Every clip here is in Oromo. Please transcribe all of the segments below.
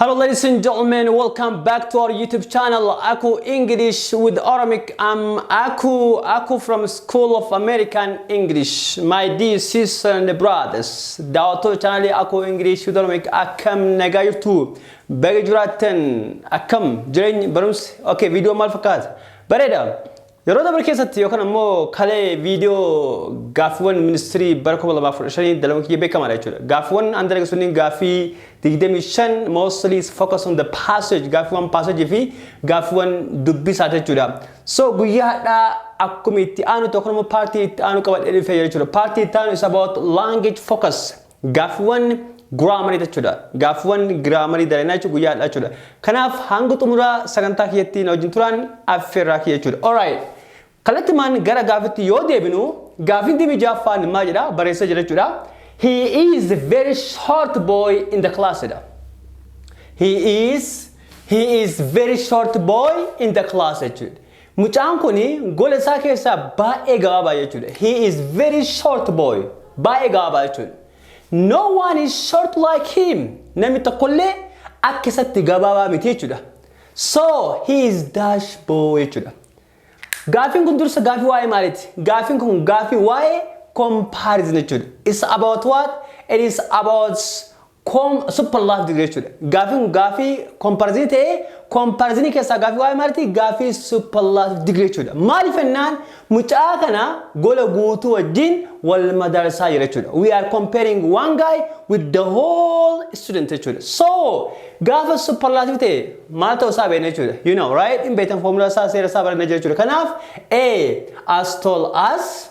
Hello ladies and gentlemen, welcome back to our YouTube channel Aku English with Oramic. I'm Aku, Aku from School of American English. My dear sisters and brothers, daawwattoota channel Aku English with Oramic akkam nagaa jirtu? Baga jiraattan akkam jireenyi barumsi? Okay, viidiyoo maal fakkaata? Bareeda. Yeroo dabre keessatti yookaan ammoo kalee viidiyoo gaaffiiwwan ministirii bara 2015 dalaguun kiyya beekamaadha jechuudha. Gaaffiiwwan an dalage sunniin gaaffii 25 mostly is focus on the passage gaaffiiwwan passage fi gaaffiiwwan dubbisaati jechuudha. So guyyaa hadhaa akkuma itti aanu tokko nama paartii itti aanu qabadhee dhufee jechuudha. Paartii itti aanu is about language focus. Gaaffiwwan giraamarii jechuudha. Gaaffiwwan giraamarii daleenaa jechuun guyyaa har'aa jechuudha. Kanaaf hanga xumuraa sagantaa kiyyatti na wajjin turaan affeerraa kiyya jechuudha. Alright. Kallattimaan gara gaaffitti yoo deebinu gaaffiin dibi jaaffaan maal jedha barreessee jira jechuudha. He is a very short boy in the class jedha. He is he is very short boy in the class jechuudha. Mucaan kun gola isaa keessaa baay'ee gabaabaa jechuudha. He is very short boy. Baay'ee gabaabaa jechuudha. No one is short like him. Namni tokkollee akka isatti gabaabaa miti jechuudha. So he is dash boy jechuudha. Gaafiin kun dursa gaafii waa'ee maaliiti? Gaafiin kun gaafii waa'ee comparison jechuudha. It's about what? It is about Koom super laaf dide jechuudha. Gaaffiin kun gaaffii komparazini ta'ee komparazini keessaa gaaffii waa'ee maaliiti gaaffii super laaf dide jechuudha. Maaliif jennaan mucaa kana gola guutuu wajjin wal madaalsisaa jira jechuudha. We are comparing one guy with the whole student jechuudha. So gaafa super laaf ta'e maal ta'uu isaa beekna jechuudha. You know right? Hin beektan foomulaa isaa seera isaa baranna jechuudha. Kanaaf A as tall as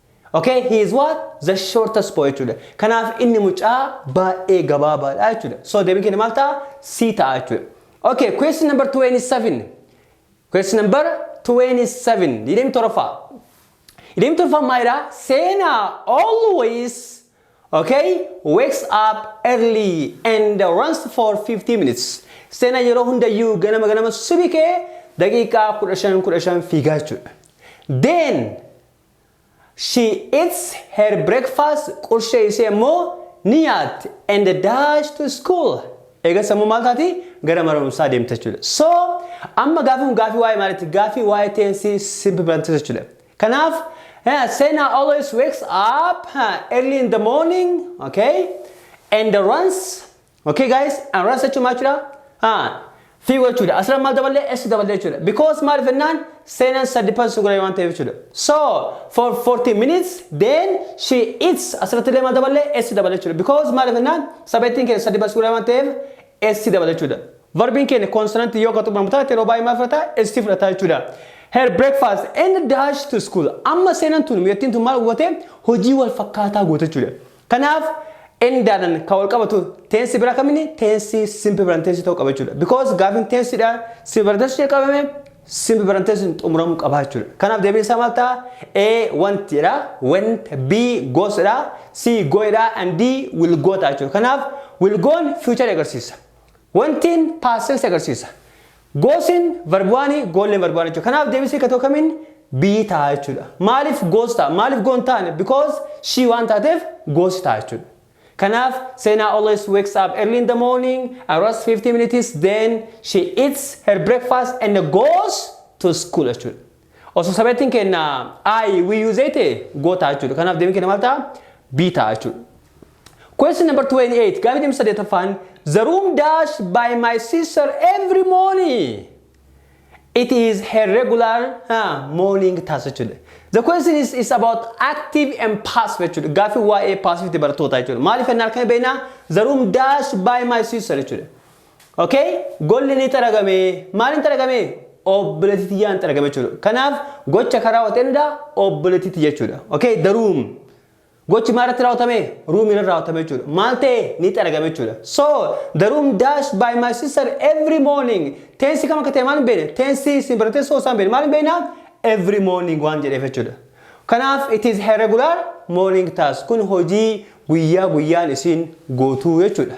Ok he is what? The shortest boy jechuudha. Kanaaf inni mucaa baay'ee gabaabaadha jechuudha. So deebiin keenya maal ta'a? C ta'a jechuudha. Ok question number 27. Question number 27. Digdamii torbaffaa. Digdamii torbaffaa maalidha? Seena always okay wakes up early and runs for 15 minutes. Seena yeroo hundayyuu ganama ganama subii ka'ee daqiiqaa 15 15 fiigaa jechuudha. Then She eats her breakfast qurshee ishee immoo ni nyaatti and dash to school eegas ammoo maal taati gara mana barumsaa deemti jechuudha. So amma gaafii kun gaafii waa'ee maalitti gaafii waa'ee tense simple present tense jechuudha. Kanaaf eh, Sena always wakes up eh, early in the morning okay and runs Okay guys, and run search match da. Ah, fi gochu da. Asra mal daballe s daballe chu da. Because mal fennan senan sad depends sun gura wanta chu da. So, for 40 minutes then she eats asra tile mal daballe s daballe chu da. Because mal fennan sabetin ke sad depends gura wanta s daballe chu da. Verbin ke consonant yo ka tubam ta telo bai mal fata s ti fata chu da. Her breakfast and dash to school. Amma senan tun yettin tun mal gote hojii wal fakkaataa gote chu da. Kanaaf N daanan kan walqabatu tense bira kamini tense simple present tense ta'uu qaba jechuudha. Because gaafin tense dha simple present tense jalqabame simple present tense xumuramuu qaba jechuudha. Kanaaf deebiin isaa maal ta'a? A want dha, went, B goes dha, C going dha, and D will go ta'a jechuudha. Kanaaf will go'n future agarsiisa. Went'n past tense agarsiisa. Goosen varbuani goolleen varbuani jechuudha. Kanaaf deebisee katoo kamiin biyyi ta'a jechuudha. Maaliif goos ta'a? Maaliif goo hin taane? Because she waan taateef goosi ta'a jechuudha. Kanaaf Seenaa always wakes up early in the morning and runs 15 minutes then she eats her breakfast and goes to school jechuudha. Osoo sabeettiin keenna I, we use ta'e go ta'a jechuudha. Kanaaf deebiin keenna maal ta'a? B ta'a jechuudha. Question number 28 gaaffii deemsa saddeettaffaan The room dash by my sister every morning. It is her regular uh, morning task jechuudha. The question is, is about active and passive jechuudha. Gaaffii waa'ee passive ti barattootaa jechuudha. Maaliif ennaa halkan beekna? The room dash by my sister jechuudha. Ok golli ni xaragame maalin xaragame obboleetti tiyyaan xaragame jechuudha kanaaf gocha kan raawwate eenyudha obboleetti tiyya jechuudha ok the room gochi maal irratti raawwatame room irratti raawwatame jechuudha maal ta'e ni xaragame jechuudha so the room dash by my sister every morning tensi kam akka ta'e maal hin beekne tensi isin baratee soo isaan beekne maal hin beekna every morning waan jedheef jechuudha kanaaf it is her regular morning task kun hojii guyyaa guyyaan isin gootuu jechuudha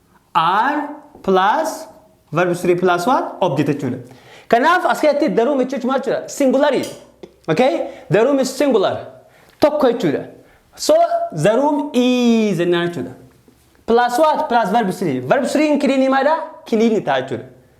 are plus verb 3 plus 1 object jechuudha. Kanaaf as keessatti the room jechuun maal jechuudha? Singularii. Okay? The room is singular. Tokko jechuudha. So the room is jennaan jechuudha. Plus what? Plus verb 3. Verb 3 hin kiliinii maadha? Kiliinii ta'a jechuudha.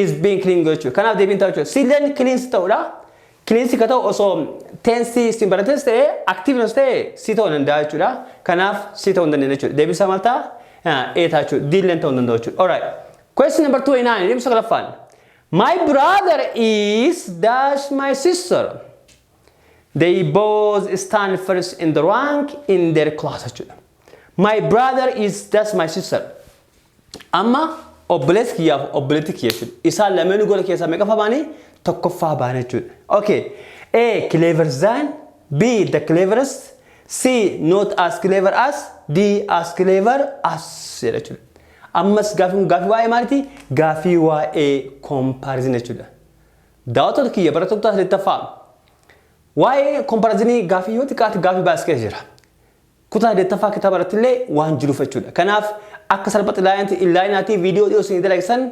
is being clean gochuu kanaaf deebiin ta'u jechuudha silleen cleans ta'udha cleans ka ta'u osoo tensi simbaratives ta'e activeness ta'e si ta'u danda'a jechuudha kanaaf si ta'u hin dandeenye jechuudha deebiin isaa maal ta'a ee ta'a jechuudha diilleen ta'u hin danda'u jechuudha alright question number 29 deebiin saglaffaan my brother is dash my sister they both stand first in the rank in their class jechuudha my brother is dash my sister Amma obboleessi kiyyaaf obboleetti kiyya jechuudha. Isaan lameenuu gola keessaa meeqaffaa baanii? Tokkoffaa baana jechuudha. Okay. A. Clever than B. The cleverest C. Not as clever as D. As clever as jedha jechuudha. Ammas gaafiin kun gaafii waa'ee maaliiti? Gaafii waa'ee comparison jechuudha. Daawwattoota kiyya barattoota kutaa saddeettaffaa waa'ee comparison gaafii yoo xiqqaate gaafii baay'ees keessa jira. Kutaa 8ffaa kitaaba irrattillee waan jiruuf jechuudha. Kanaaf akka salphatti laayinti inlaayinaatii viidiyoo dhiyoo isinii dalage san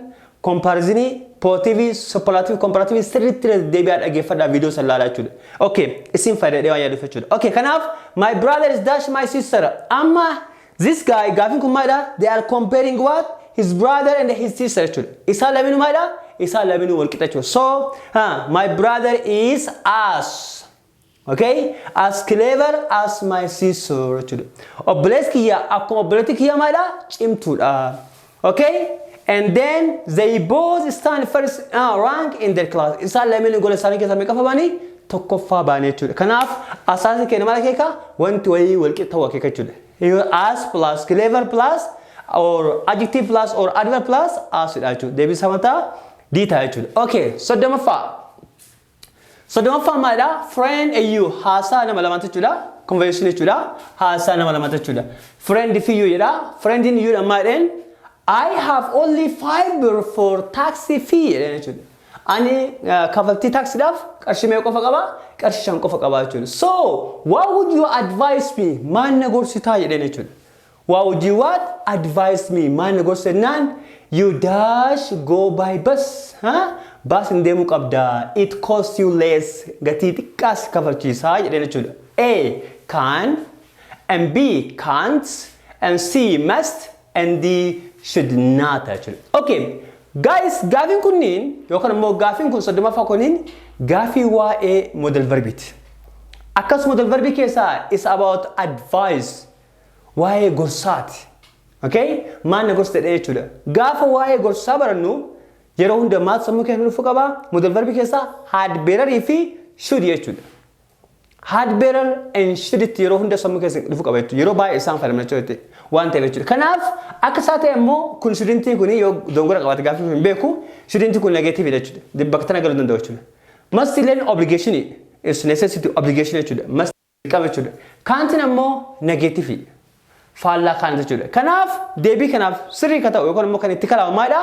kompaarizinii pootiivii soppalaatiivii kompaaraatiivii sirriitti irra deddeebi'aa dhageeffadhaa viidiyoo san laalaa jechuudha. Okay isin fayyada jedhee waan yaaduuf jechuudha. Okay kanaaf my brother is dash my sister amma this guy gaafiin kun maalidha they are comparing what his brother and his sister jechuudha. Isaan lameenuu maalidha isaan lameenuu wal qixa jechuudha. So ha my brother is as Okay? As clever as my sister jechuudha. Obboleessi kiyya akkuma obboleettii kiyya maalidha? Cimtuudha. Okay? And then they both stand first uh, rank in their class. Isaan lameen gola isaanii keessaa meeqaffaa baanii? Tokkoffaa baanii jechuudha. Kanaaf asaasni keenya maal akeeka? Wanti wayii walqixa ta'uu akeeka jechuudha. Yoo As plus clever plus or adjective plus or adverb plus as dha jechuudha. Deebii isaa mataa D ta'a jechuudha. Okay, soddomaffaa. Soddomaffaan maalidha? Friend and you haasaa nama lamaatu jechuudha. Conversation jechuudha. Haasaa nama lamaatu jechuudha. Friend fi you jedha. Friend in you dha maadheen. I have only five birr for taxi fee jedheen jechuudha. Ani uh, kafaltii taaksiidhaaf qarshii meeqa qofa qaba? Qarshii shan qofa qaba jechuudha. So, what would you advise me? Maal na gorsitaa jedheen jechuudha. Wow G what advice me maal na gorsa jennaan you dash go by bus ha baasin deemuu qabda it cost you less gatii xiqqaa si kafalchiisa jedheen jechuudha A can and B can't and C must and D should not jechuudha okay guys gaafiin kunniin yookaan immoo gaafiin kun soddomaffaa kunniin gaafii waa'ee model verbiiti akkasuma model verbii keessaa is about advice Waa'ee gorsaati. Okay? Maal na gorsa jedhee jechuudha. Gaafa waa'ee gorsaa barannu yeroo hunda maaltu sammuu keessa dhufu qaba? Modal verbi keessaa had bearer fi should jechuudha. Had bearer and should itti yeroo hunda sammuu keessa dhufu qaba jechuudha. Yeroo baay'ee isaan fayyadamna jechuudha. Waan ta'eef jechuudha. Kanaaf akka isaa ta'e immoo kun shouldn't kun yoo dongora qabaate gaaffii hin beeku shouldn't kun negative dha jechuudha. Bakka tana galuu danda'u jechuudha. Must illeen obligation is necessity obligation jechuudha. Must qaba jechuudha. Kaantiin ammoo nageetifii faallaa kaanti jechuudha. Kanaaf deebii kanaaf sirrii ka ta'u yookaan immoo kan itti kalaamu maalidha?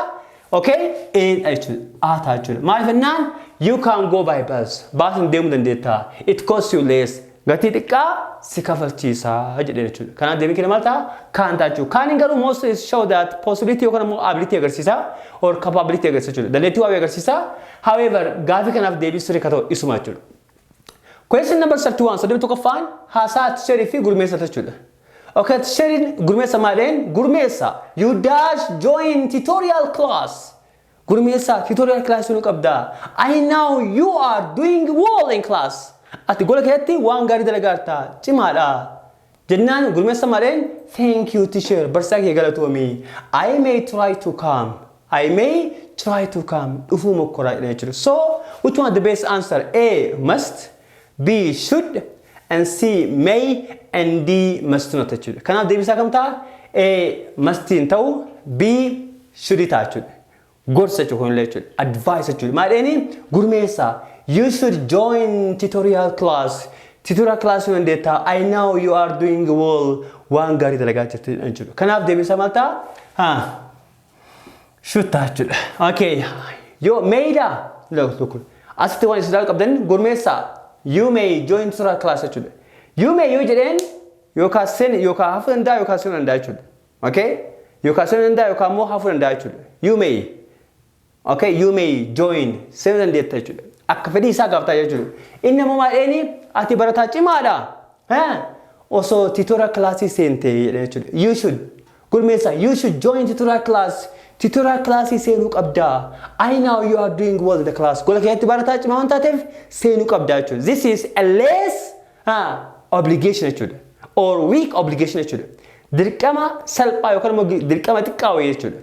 Okay, eedha jechuudha. A ta'a jechuudha. Maaliif jennaan you can go by bus. Baasiin deemuu dandeetta. It costs you less. Gatii xiqqaa si kafalchiisa jedhee jechuudha. Kanaaf deebii kee maal ta'a? Kaan ta'a jechuudha. Kaaniin garuu most is show that possibility yookaan immoo ability agarsiisa or capability agarsiisa jechuudha. Dandeettii waa'ee agarsiisa. However, gaafii kanaaf deebii sirrii ka ta'u isuma jechuudha. Question number 31 soddomii tokkoffaan haasaa tisherii fi gurmeessa jechuudha. Okay, tisheriin gurmeessa maadheen gurmeessa you dash join tutorial class gurmeessa tutorial class nu qabda. I know you are doing well in class. Ati gola keessatti waan gaarii dalagaarta cimaadha. Jennaan gurmessa mareen Thank you teacher barsisaa kiyya galatoomi I may try to come I may try to come dhufuu mokkoraa jedhan jechuudha. So which one is the best answer? A. Must B. Should and C. May and D. Must not jechuudha. Kanaaf deebisaa kam ta'a? A. Must hin ta'u B. Should ta'a jechuudha. Gorsa jechuun kunillee jechuudha. Advice jechuudha. Maadheeni gurmeessa. You should join tutorial class. Tutorial class yoo dandeettaa. I know you are doing well. Waan gaarii dalagaa jirtu jechuudha. Kanaaf deebisaa maal ta'a? Ha. Shuttaa jechuudha. Okay. Yoo meeydaa. Look. Asitti waan isin ilaaluu qabdan gurmeessa. You may join tutorial class jechuudha. You may yoo jedheen yookaan seen yookaan hafuu danda'a yookaan seenuu danda'a jechuudha. Okay? Yookaan seenuu danda'a yookaan immoo hafuu danda'a jechuudha. You may. Okay? You may join. Seenuu dandeetta jechuudha. Akka fedhii isaa gaaftaa jechuudha. Inni ammoo maal jedheeni ati barataa cimaadha. Ha? Osoo titora kilaasii seentee jedhee jechuudha. You should. Gurmeessa, you should join tutorial class. Tutorial classii seenuu qabdaa. I know you are doing well in the class. Gola keessatti barataa cimaa waan taateef seenuu qabdaa jechuudha. This is a less a obligation jechuudha or weak obligation jechuudha dirqama salphaa yookaan immoo gi- dirqama xiqqaa wayii jechuudha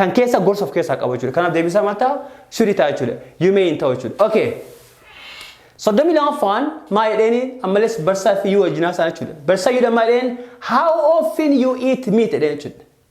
kan keessa gorsa of keessaa qabu jechuudha kanaaf deebisaa maal ta'a sudi ta'a jechuudha you may hin ta'u jechuudha okay soddomii lamaffaan maal jedheeni ammalees barsaa fi yuu wajjinaa isaa jechuudha barsaa yuudha maal jedheen how often you eat meat jedheen jechuudha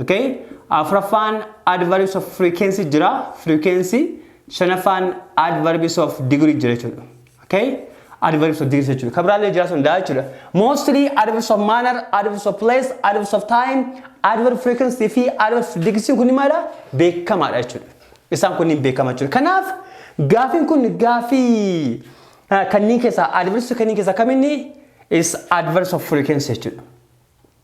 Okay? Afraffaan adverbs of frequency jira. Frequency. Shanaffaan adverbs of degree jira jechuudha. Okay? Adverbs of degree jechuudha. Kan biraallee jira sun daa jechuudha. Mostly adverbs of manner, adverbs of place, adverbs of time, adverb frequency fi adverbs of degree kun maala beekamaadha jechuudha. Isaan kunniin beekama jechuudha. Kanaaf gaafiin kun gaafii ah, kanneen keessaa adverbs kanneen keessaa kaminni is adverbs of frequency jechuudha.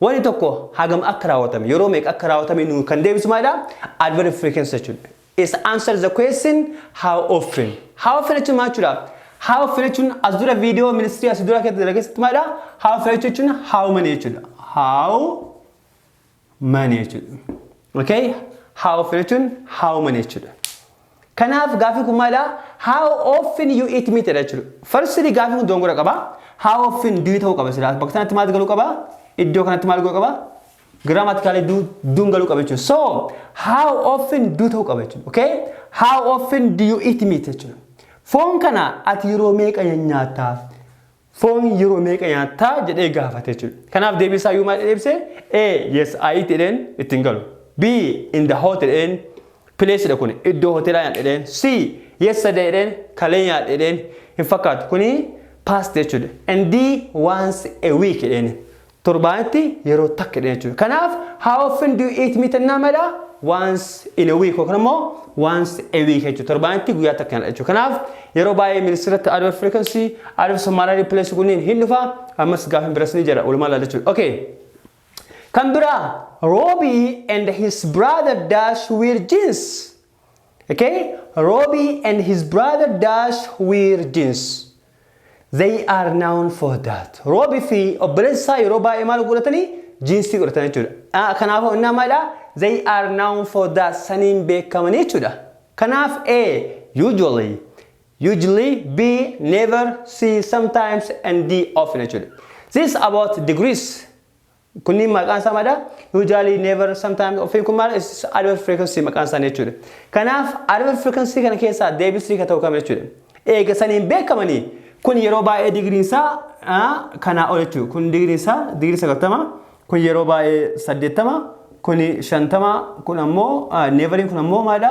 Wani tokko hagam akka raawwatame, yeroo meeqa akka raawwatame nuu kan deebisu maalidha? Adverb frequency jechuun. Is answer the question how often. How often jechuun maal jechuudha? How often jechuun as dura viidiyoo ministirii as dura keessa keessatti maalidha? How often jechuun how many jechuudha. How many jechuudha. Okay? How often jechuun how many jechuudha. Kanaaf gaaffiin kun maalidha? How often you eat meat dha jechuudha. Firstly gaaffiin kun dogongora qaba. How often do you ta'uu qaba silaa. Bakka sanatti maaltu galuu qaba? Iddoo kanatti maal galuu qaba? Grammatically do do'n galuu qaba jechuudha. So how often do ta'uu qaba jechuudha. Okay? How often do you eat meat jechuudha. Foon kana ati yeroo meeqa nyaatta? Foon yeroo meeqa nyaatta? jedhee gaafate jechuudha. Kanaaf deebii isaa iyyuu maal jedhee ibse? A. Yes, I eat jedheen itti hin galu. B. In the hotel jedheen place dha kuni iddoo hoteelaa nyaadhe jedheen. C. Yesterday jedheen kalee nyaadhe jedheen hin fakkaatu kuni past jechuudha. And D. Once a week jedheen. torbaanitti yeroo takka jedhan jechuudha. Kanaaf how often do you eat meat ennaa mala once in a week yookaan immoo once a week jechuudha. Torbaanitti guyyaa takka nyaadha jechuudha. Kanaaf yeroo baay'ee ministeeratti adverb frequency, adverb summary replace kunniin hin dhufa. Ammas gaafin biras ni jira walumaa laala jechuudha. Okay. Kan biraa Robbie and his brother dash wear jeans. Okay, Robi and his brother Dash wear jeans. They are known for that. Robi fi obboleessi isaa yeroo baay'ee maal godhatanii? Jiinsii godhatan jechuudha. Ah, Kanaafuu innaa maalidha? They are known for that. Saniin beekamanii jechuudha. Kanaaf A. Usually. Usually B. Never C. Sometimes and D. Often jechuudha. This is about degrees. Kunniin maqaan isaa maadha? Usually, never, sometimes, often kun maal is adverb frequency maqaan isaanii jechuudha. Kanaaf adverb frequency kana keessaa deebisni ka ta'u kam jechuudha. Eega saniin beekamanii kun yeroo baay'ee digriin isaa kanaa ol jechuudha. Kun digriin isaa digrii sagaltama kun yeroo baay'ee saddeettama kun shantama kun ammoo neeveriin kun ammoo maadha?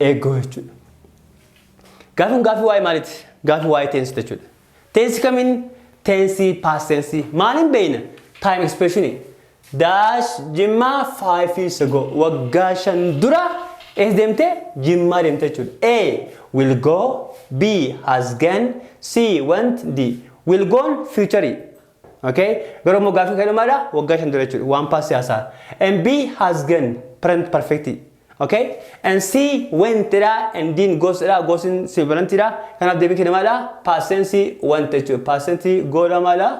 eeggoo jechuudha. Gaafi kun gaafi waa'ee maaliiti? Gaafi waa'ee teensi jechuudha. Teensi kamiin teensi paas teensi maaliin beeyna? Taayim ekspreeshinii. Daash jimmaa faayifi sego waggaa shan dura ees deemte jimmaa deemte jechuudha. A will go B has gone C went D will gone future. Okay? Garuu immoo gaafi kan dhumaadha waggaa shan dura jechuudha. Waan paas siyaasaa. And B has gone present perfect. Okay? And C, went dha, and didn't goes dha, goes in sibilanti dha. Kanaaf deebiin keenya maal dha? Past tense went jechuudha. Past tense go dha maal dha?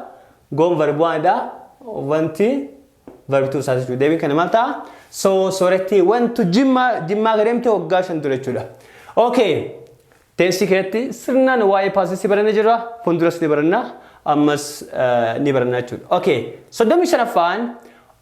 Goon verb one dha. Wanti verb two isaati jechuudha. Deebiin keenya maal ta'a? So, sooretti went to Jimma, Jimmaa akka deemte waggaa shan ture jechuudha. Okay. Teensii keessatti sirnaan waa'ee past tense barannee jirra. Fuulduras ni baranna. Ammas eh, ni baranna jechuudha. Okay. Soddomii shanaffaan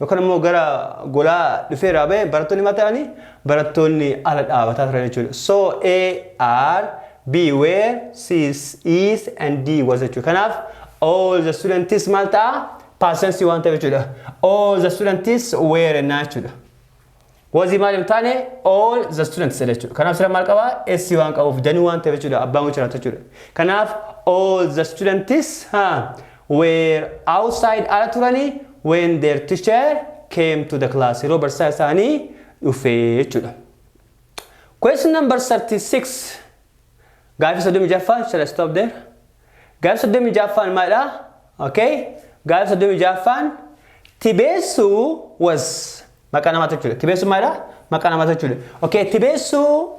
Yookaan immoo gara golaa dhufee irraa ba'e barattoonni maal ta'anii barattoonni ala dhaabataa turan jechuudha. So A are, B were, C is and D was jechuudha. Kanaaf all the students maal ta'a? Past tense waan ta'eef jechuudha. All the students were ennaa jechuudha. Wazii maal hin taane all the students jedha jechuudha. Kanaaf sira maal qabaa? S waan qabuuf danuu waan ta'eef jechuudha. Abbaan gocha laata jechuudha. Kanaaf all the students ha were outside ala turanii when their teacher came to the class yeroo barsiisaa isaanii dhufee jechuudha. Question number 36 gaafii soddomii jaffaan shall I stop there? Gaafii soddomii jaffaan maalidha? Okay. Gaafii soddomii jaffaan tibeessuu was Maqaa namaa jechuudha. Tibeessuun maalidha? Maqaa namaa jechuudha. Okay, tibeessuu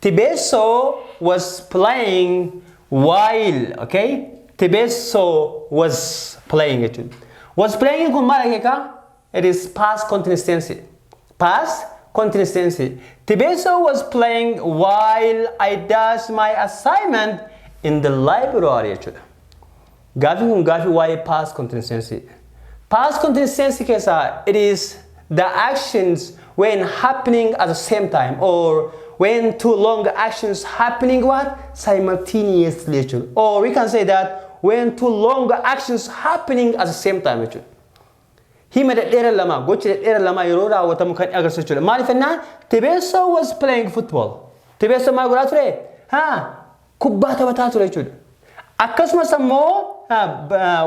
Tibesso was playing while, okay? Tibesso was playing jechuudha. Was playing kun maal akeeka? It is past continuous tense. Past continuous tense. Tibesso was playing while I does my assignment in the library jechuudha. Gaaffiin kun gaaffii waa'ee past continsensy. Past continsensy keessaa it is the actions when happening at the same time or when two long actions happening what simultaneously jechuudha. Or we can say that when two long actions happening at the same time jechuudha. Hima dhedheera lama gocha dhedheera lama yeroo raawwatamu kan agarsiisu jechuudha. Maaliif jennaan Tebesso was playing football. Tebesso maal godhaa ture? Ha kubbaa taphataa ture jechuudha. Akkasumas ammoo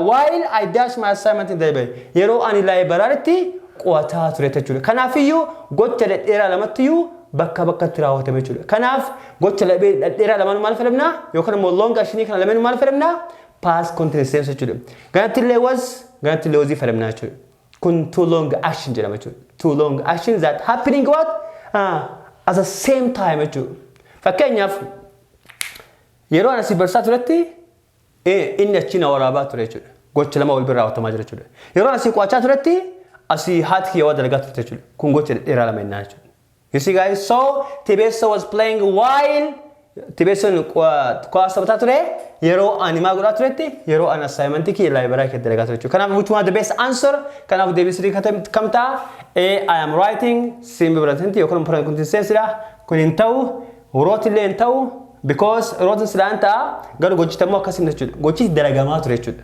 while I dash my assignment in the library yeroo ani laayibaraaritti qo'ataa ture jechuudha. Kanaafiyyuu gocha dhedheeraa lamattiyyuu bakka bakkatti raawwatame jechuudha. Kanaaf gocha dhedheeraa lamaan maal fayyadamna yookaan immoo long actionii kana lameen maal fayyadamna past continuous tense jechuudha. Ganatti illee was ganatti illee wazii fayyadamna jechuudha. Kun too long action jedhama jechuudha. Too long action that happening what? Ah, at the same time jechuudha. Fakkeenyaaf yeroo ana si barsaa turetti eh, inni achi na waraabaa ture jechuudha. Gocha lama wal bira raawwatamaa jira jechuudha. Yeroo ana si qo'achaa turetti asii haati kiyya waa dalagaa turte jechuudha. Kun gocha dhedheeraa lama innaa jechuudha. You see guys, so Tibesso was playing while Tibesson kuwaas taphataa ture yeroo ani maa godhaa turetti yeroo ani assignment kiyya laayibaraa keessatti dalagaa ture jechuudha. Kanaaf which one the best answer? Kanaaf deebii sirrii kam ta'a? A I am writing simbi biratinti yookaan immoo kun tinseessidha. Kun hin ta'u wrote illee hin ta'u because wrote silaan ta'a garuu gochitammoo akkasii jechuudha. Gochis dalagamaa ture jechuudha.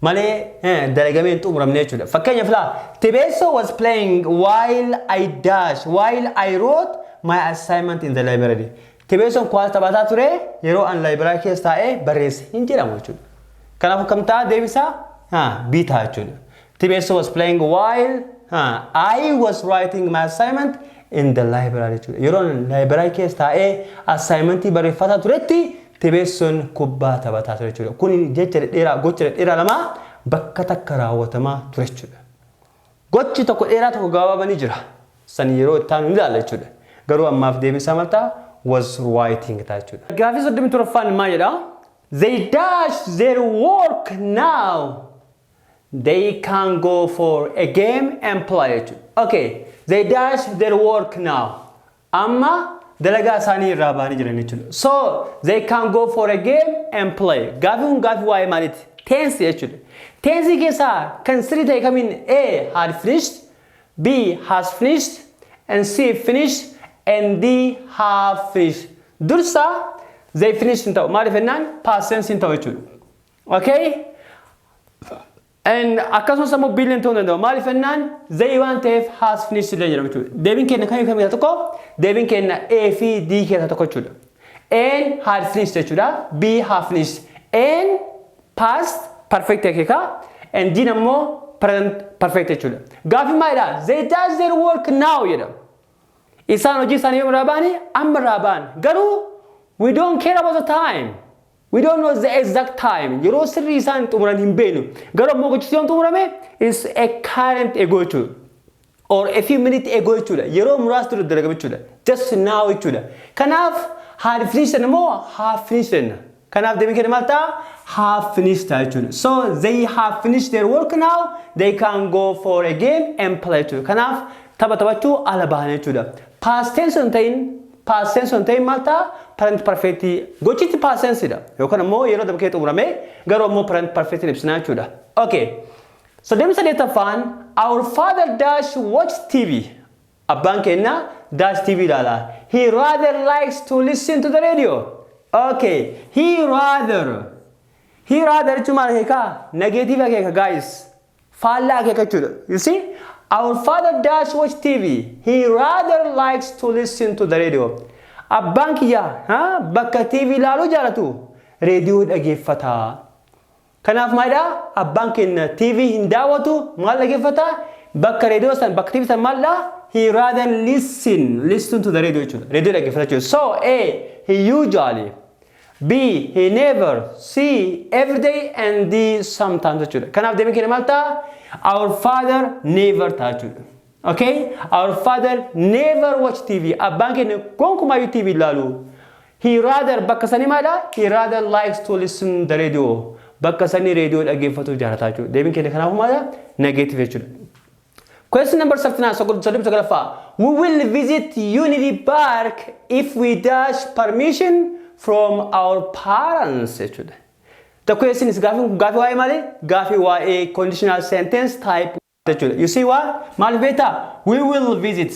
malee eh, dalagamee hin xumuramne jechuudha. Fakkeenyaaf laa Tibeessoo was playing while I dash while I wrote my assignment in the library. Tibeessoon kuwaasa taphataa ture yeroo an laayibiraa keessa taa'ee barreesse hin jedhamu jechuudha. Kanaafuu kam ta'a deebisaa? Ha, B ta'a jechuudha. Tibeessoo was playing while ha, I was writing my assignment in the library jechuudha. Yeroo an laayibiraa keessa taa'ee assaayimentii barreeffataa turetti Tebeessoon kubbaa taphataa ture jechuudha. Kun jecha dhedheeraa, gocha dhedheeraa lama bakka takka raawwatamaa ture jechuudha. Gochi tokko dheeraa tokko gabaabaa ni jira. San yeroo itti aanu ni ilaalla jechuudha. Garuu ammaaf deebiin isaa maal ta'a? Was writing ta'a jechuudha. Gaaffii 37ffaan maal jedha? They dash their work now. They can go for a game and play jechuudha. Okay. They dash their work now. Amma dalagaa isaanii irraa ba'anii jiran jechuudha. So they can go for a game and play. Gaafii kun gaafii waa'ee maaliiti? Tense jechuudha. Tense keessaa kan sirrii ta'e kamiin A had finished, B has finished, and C finished, and D have finished. Dursa they finished hin ta'u. Maaliif jennaan past tense hin ta'u jechuudha. Okay? And akkasumas ammoo billion ta'uu danda'u. Maaliif jennaan zayii waan ta'eef has finished illee jedhama jechuudha. Deebiin keenya kami kami keessaa tokko? Deebiin keenya A fi D keessaa tokko jechuudha. A'n had finished jechuudha. B have finished. A'n past perfect akeeka. And D'n ammoo present perfect jechuudha. Gaaffiin maalidha? They does their work now jedha. Isaan hojii isaanii yoom irraa ba'anii? Amma irraa ba'an. Garuu we don't care about the time. We don't know the exact time. Yeroo sirrii isaan xumuran hin beeknu. Garuu ammoo gochichi yoom xumurame? It's a current ago jechuudha. Or a few minutes ago jechuudha. Yeroo muraasa dura dalagame jechuudha. Just now jechuudha. Kanaaf had finished jenna moo have finished jenna? Kanaaf deebiin keenya maal ta'a? Have finished ta'a jechuudha. So they have finished their work now. They can go for a game and play jechuudha. Kanaaf tapha taphachuu ala bahan jechuudha. Past tense hin ta'in Past tense osoo hin ta'in maal ta'a? Present perfect. Gochichi past tense dha. Yookaan ammoo yeroo dabree xumuramee garuu ammoo present perfect hin ibsinaa jechuudha. Okay. Soddomii saddeettaffaan Our father dash watch TV. Abbaan keenya dash TV ilaala. He rather likes to listen to the radio. Okay. He rather. He rather jechuun maal akeeka? Negative akeeka guys. faallaa akeekachudha. You see, our father does watch TV, he rather likes to listen to the radio. Abbaan kiyya ha, bakka TV ilaaluu jaalatu reediyoo dhageeffata. Kanaaf maalidhaa? Abbaan keenya TV hin daawwatu, maal dhageeffata? Bakka reediyoo san, bakka TV san maalidhaa? He rather listen, listen to the radio jechuudha. Reediyoo dhageeffata jechuudha. So, A, he usually B. He never, C. Every day and D. Sometimes jechuudha. Kanaaf deebiin keenya maal ta'a? Our father never ta'a jechuudha. Okay? Our father never watch TV. Abbaan keenya gonkumaayyuu TV hin laalu. He rather bakka sanii maadha? He rather likes to listen the radio. Bakka sanii reediyoo dhaggeeffatu jaalataa jechuudha. Deebiin keenya kanaafuu maadha? Negative jechuudha. Question number 39 sokol- 39ffaa We will visit Unity Park if we dash permission from our parents jechuudha. The question is gaafii kun gaafii waa'ee maali? Gaafii waa'ee conditional sentence type jechuudha. You see why? Maaliif beektaa? We will visit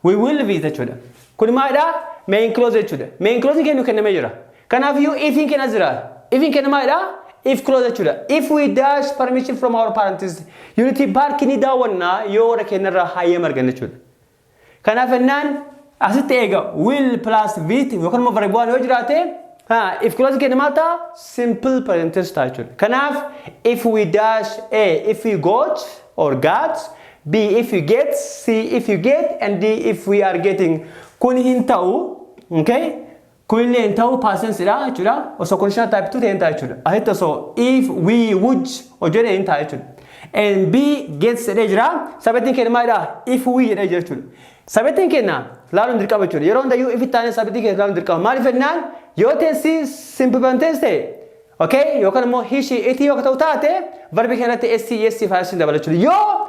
We will visit jechuudha. Kun maalidha? Main clause jechuudha. Main clause keenya nu kennamee jira. Kanaaf iyyuu ifin keenya as jira. Ifin keenya maalidha? If clause jechuudha. If we dash permission from our parents, unity park ni daawwanna yoo warra keenyarraa hayyama arganne jechuudha. Kanaaf ennaan asitti eega will plus visit yookaan immoo verb waan yoo jiraate ha if clause keenya maal ta'a? Simple present tense ta'a jechuudha. Kanaaf if we dash a if we got or got B. If you get, C. If you get, and D. If we are getting. Kun hin ta'u, okay? Kun illee hin ta'u, past dha jechuudha. Osoo conditional type 2 ta'e hin ta'a jechuudha. Asitti osoo if we would hojjete hin ta'a jechuudha. And B. Gets jedhee jira. Sabettiin keenya maalidha? If we jedhee jira jechuudha. Sabettiin keenya laaluun dirqama jechuudha. Yeroo hundayyuu if itti aanee sabettii keenya laaluun dirqama. Maaliif jennaan yoo teessi simple tense ta'e Okay? Yookaan immoo he, she, it yoo ka ta'u taate verbi keenyatti s, yes fi is dabalachuudha. Yoo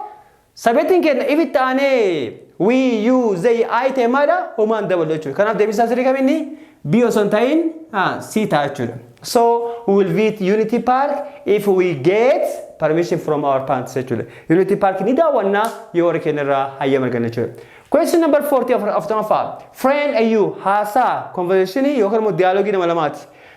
sabeetiin keenya if itti aanee we, you, they, I ta'e maadha homaan dabalu jechuudha. Kanaaf deebisaa sirrii kamiinni B osoo hin ta'in ah, C ta'a jechuudha. So we will visit Unity Park if we get permission from our parents jechuudha. Unity Park ni daawwanna yoo warri keenya irraa hayyama arganne jechuudha. Question number 40 of, of Tonoffaa. Friend AU haasaa conversation yookaan immoo dialogue nama lamaati.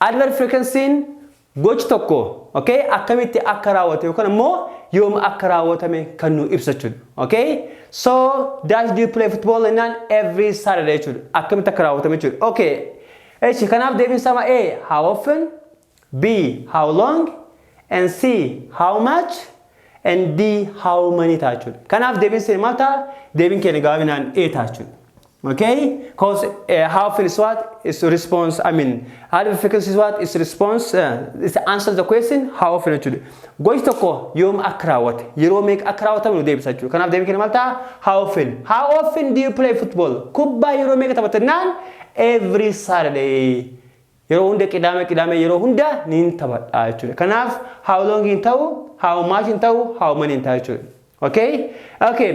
Adverb frequency'n gochi tokko okay, akkamitti akka raawwate yookaan ammoo yoom akka raawwatame kan nuu ibsa jechuudha. Okay? So, dash do you play football jennaan every Saturday jechuudha. Akkamitti akka raawwatame jechuudha. Okay. Eshi kanaaf deebiin isaa ma A. How often B. How long and C. How much and D. How many ta'a jechuudha. Kanaaf deebiin isaa maal ta'a? Deebiin keenya gabaabinaan A ta'a jechuudha. Okay, cause uh, how feel is what is to response. I mean, how the frequency is what is to response. Uh, is to answer the question how often jechuudha. Gochi tokko yoom akka raawwate yeroo meeqa akka raawwatamu nu deebisa jechuudha. Kanaaf deebii kenna maal ta'a? How often. How often do you play football? Kubbaa yeroo meeqa taphatta jennaan every Saturday. Yeroo hunda qidaame qidaame yeroo hunda niin taphadha jechuudha. Kanaaf how long hin ta'u, how much hin ta'u, how many hin ta'a jechuudha. Okay? Okay.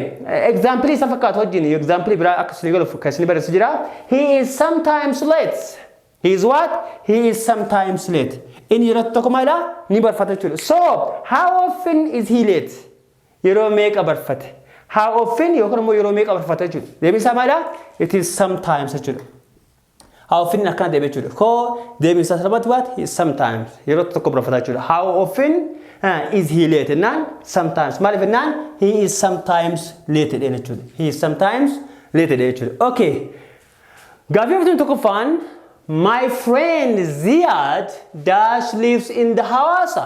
Example isa fakkaatu wajjin example biraa akka isin galuuf kan isin barreessu jira. He is sometimes late. He is what? He is sometimes late. Inni yeroo tokko maalidha? Ni barfata jechuudha. So, how often is he late? Yeroo meeqa barfate? How often yookaan immoo yeroo meeqa barfata jechuudha. Deebiin isaa maalidha? It is sometimes jechuudha. How often akkana deebi jechuudha. Koo deebiin isaa salphaatti waat sometimes yeroo tokko birafata jechuudha. How often uh, is he late jennaan sometimes maaliif jennaan he is sometimes late jedheen jechuudha. He is sometimes late jedheen jechuudha. Okay. Gaaffii fudhatuun tokkoffaan my friend Ziyad dash lives in the Hawassa.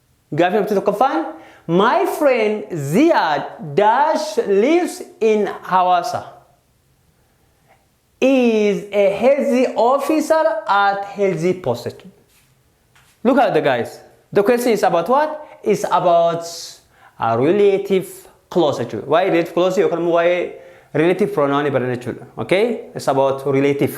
Gaaffii murtii tokkoffaan My friend Ziyaad dash lives in Hawaasa. Is a healthy officer at healthy post. Look at the guys. The question is about what? It's about a relative clause jechuudha. Waa'ee relative clause yookaan immoo waa'ee relative pronoun barana jechuudha. Okay? It's about relative.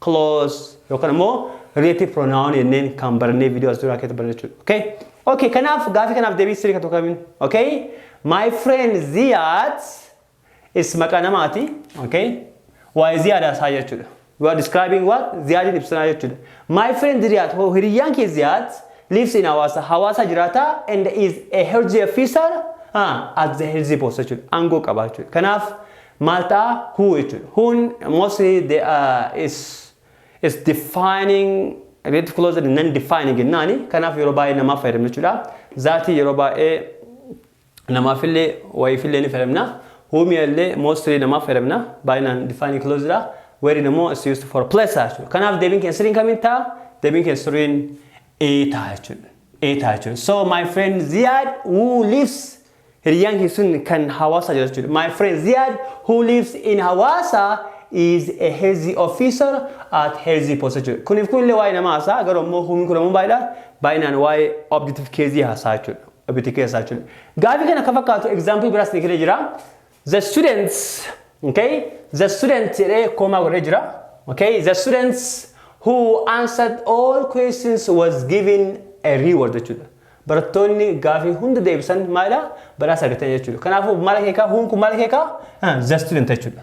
clause yookaan immoo relative pronoun jenneen kan barannee video as duraa keessatti barannee jechuudha. Okay? Okay, kanaaf gaafii kanaaf deebii sirrii kan tokko kamiin? Okay? My friend Ziyad is maqaa namaati. Okay? Waa'ee Ziyad haasaa jechuudha. You are describing what? Ziyadin ibsanaa jechuudha. My friend Ziyad, ho- hiriyyaan kee Ziyad lives in Hawaasa. Hawaasa jiraata and is a healthy officer ah, at the healthy post jechuudha. Aangoo qaba jechuudha. Kanaaf Maal ta'a? Who jechuudha. Who'n mostly they are is is defining related clause and non defining jennaani. Kanaaf yeroo baay'ee namaaf fayyadamna jechuudha. Zaatii yeroo baay'ee namaafillee wayiifillee ni fayyadamna. Who mi'allee mostly namaaf fayyadamna. Baay'inaan defining clause dha. Wherein immoo is used for place ta'a jechuudha. Kanaaf deebiin keenya sirriin kamiin ta'a? Deebiin keenya sirriin A ta'a jechuudha. A ta'a jechuudha. So my friend Ziyaad who lives Hiriyaan kee sun kan Hawaasaa jira jechuudha. My friend Ziyaad who lives in Hawaasa is a healthy officer at healthy post jechuudha. Kuniif kun illee waa'ee namaa haasaa garuu ammoo humin kun ammoo baay'eedha. Baay'inaan waa'ee objective keezii haasaa jechuudha. Objective keezii haasaa jechuudha. Gaafii kana akka fakkaatu example biraas ni kennee jira. The students, okay, the students jedhee koomaa godhee jira. Okay, the students who answered all questions was given a reward jechuudha. Barattoonni gaafii hunda deebisan maalidha? Badhaasa argatan jechuudha. Kanaafuu maal akeekaa? Huun kun maal akeekaa? The student jechuudha.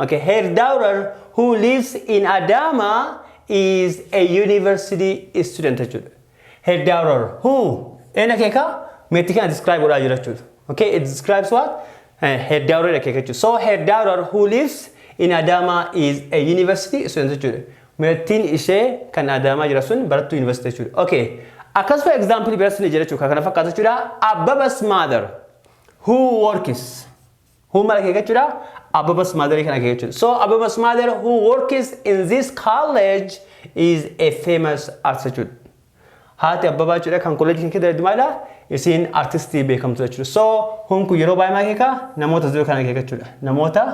Okay, her daughter who lives in Adama is a university student jechuudha. Her daughter who ena keeka meetti kana describe godhaa jira jechuudha. Okay, it describes what? Eh, her daughter dha keeka jechuudha. So her daughter who lives in Adama is a university student jechuudha. Meettiin ishee kan Adaamaa jira sun barattuu university jechuudha. Okay, akkas for example biratti ni jira jechuudha. Kan kana fakkaata jechuudha. Abbaba's mother who works Who maal akeekachudha? Ababa's mother kan akeekachudha. So Ababa's mother who works in this college is a famous artist jechuudha. Haati Abbabaa jechuudha kan kolleejii kan keessa maalidha? Isiin artistii beekamtuu jechuudha. So whom kun yeroo baay'ee maal akeeka? Namoota as jiru kan akeeka jechuudha. Namoota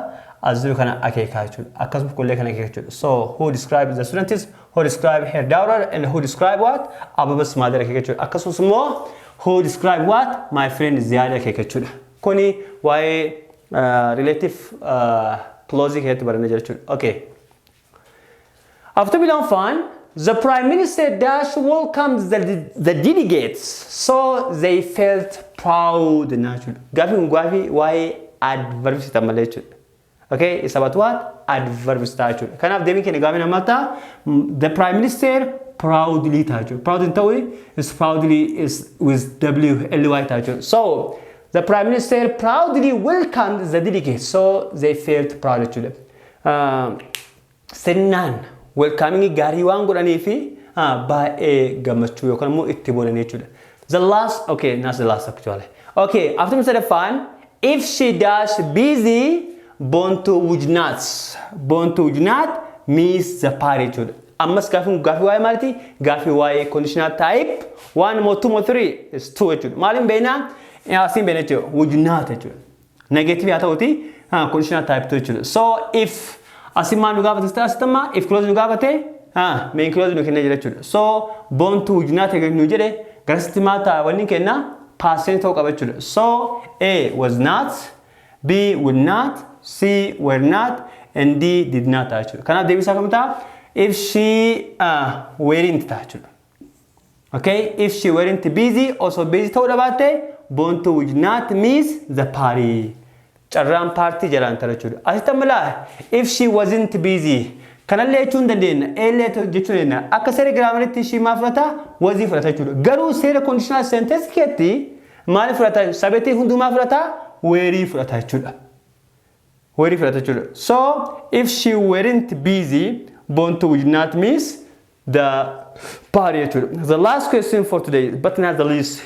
as jiru kana akeeka jechuudha. Akkasumas kollee kan akeeka jechuudha. So who describe the students, who describe her daughter and who describe what? Ababa's mother akeeka jechuudha. Akkasumas immoo who describe what? My friend Ziyaad akeeka jechuudha. Kuni waa'ee relative clause keessatti baranne jira jechuudha. Okay. Afurtamii lammaffaan The Prime Minister Dash welcomes the, the delegates so they felt proud na jechuudha. Gaafii kun gaafii waa'ee adverb sitan malee jechuudha. Okay, it's about what? Adverbs ta'a jechuudha. Kanaaf deebiin keenya gaafii namaa ta'a. The Prime Minister proudly ta'a jechuudha. Proud hin ta'u is proudly is with WLY ta'a jechuudha. So, the Prime Minister proudly welcomed the delegates. So, they felt proud jechuudha. Uh, sirnaan welcoming gaarii waan godhanii fi ah, baay'ee gammachuu yookaan immoo itti boonanii jechuudha. The last, okay, not the last actually. Okay, afternoon sadaffaan if she dash busy boontuu would not boontuu would not miss the party jechuudha. Ammas gaafiin kun gaafii waa'ee maaliti? Gaafii waa'ee conditional type one moo two moo three is two jechuudha. Maaliin beeknaa? Asiin beekna jechuudha. Would not jechuudha. Negative haa ta'uti ah, conditional type to jechuudha. So if asi maal nu gaafate sitti asitti amma if close nu gaafate ah, main close nu kennee jira jechuudha. So born to would not agree nu jedhe garasitti maal ta'a wanni kenna past tense ta'uu qaba jechuudha. So A was not, B would not, C were not, and D did not ta'a jechuudha. Kanaaf deebisaa kam ta'a? If she ah, weren't ta'a jechuudha. Okay, if she weren't busy, osoo busy ta'uu dhabaatte, Boontuu would not miss the party. Carraan paartii jalaan tarachuudha. Asitti amma laa, if she wasn't busy. Kanallee jechuu hin dandeenna, eellee jechuu dandeenya. Akka seera giraamaritti she maal fudhata? Wazii fudhata jechuudha. Garuu seera conditional sentence keetti maal fudhata? Sabetii hunduu maal fudhata? Weerii fudhata jechuudha. Were fudhata jechuudha. So, if she weren't busy, Bontu would not miss the party jechuudha. The last question for today, but not the least.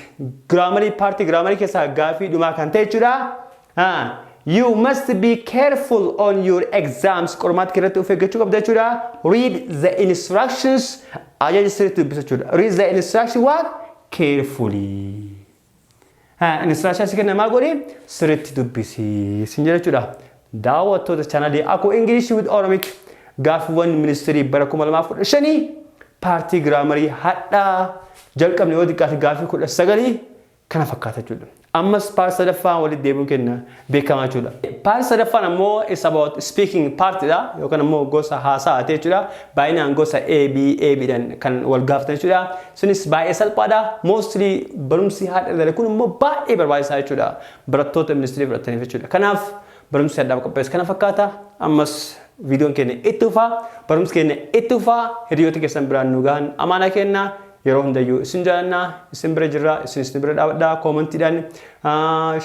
Grammarii, party grammarii keessaa gaafii dhumaa kan ta'e jechuudha. Ah, you must be careful on your exams. Qormaata keessatti of eeggachuu qabda jechuudha. Read the instructions. Ajaja sirriitti dubbisa jechuudha. Read the instruction what? Carefully. Inistiraashaa si kennamaa godhi sirriitti dubbisi sin jedha jechuudha. Daawwattoota chaanalii Akuu Ingilish with Oromik gaaffiiwwan ministirii bara 2015 paartii giraamarii hadhaa jalqabne yoo xiqqaate gaaffii 19 kana fakkaata jechuudha. Ammas paartii sadaffaa walitti deebiin kenna. beekama jechuudha. Part sadaffaan ammoo is about speaking part dha yookaan ammoo gosa haasa'aati jechuudha. Baay'inaan gosa A, B, A, B dhan kan wal gaafatan jechuudha. Sunis baay'ee salphaadha. Mostly barumsi har'a ilaalle kun immoo baay'ee barbaachisaa jechuudha. Barattoota ministirii fudhataniif jechuudha. Kanaaf barumsi har'aaf qopheesse kana fakkaata. Ammas viidiyoon keenya itti fufaa. Barumsi keenya itti fufaa. Hiriyoota keessan biraan nu gahan amaanaa keenya. Yeroo hundayyuu isin jaalanna, isin bira jirra, isinis nu bira dhaabadha. Koomantiidhaan,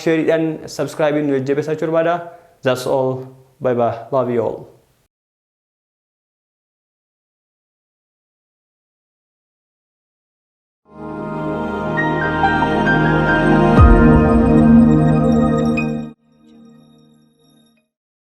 sheeriidhaan, subscribe'n nu jajjabeessaa jechuu barbaada. That's all. Bye bye. Love you all.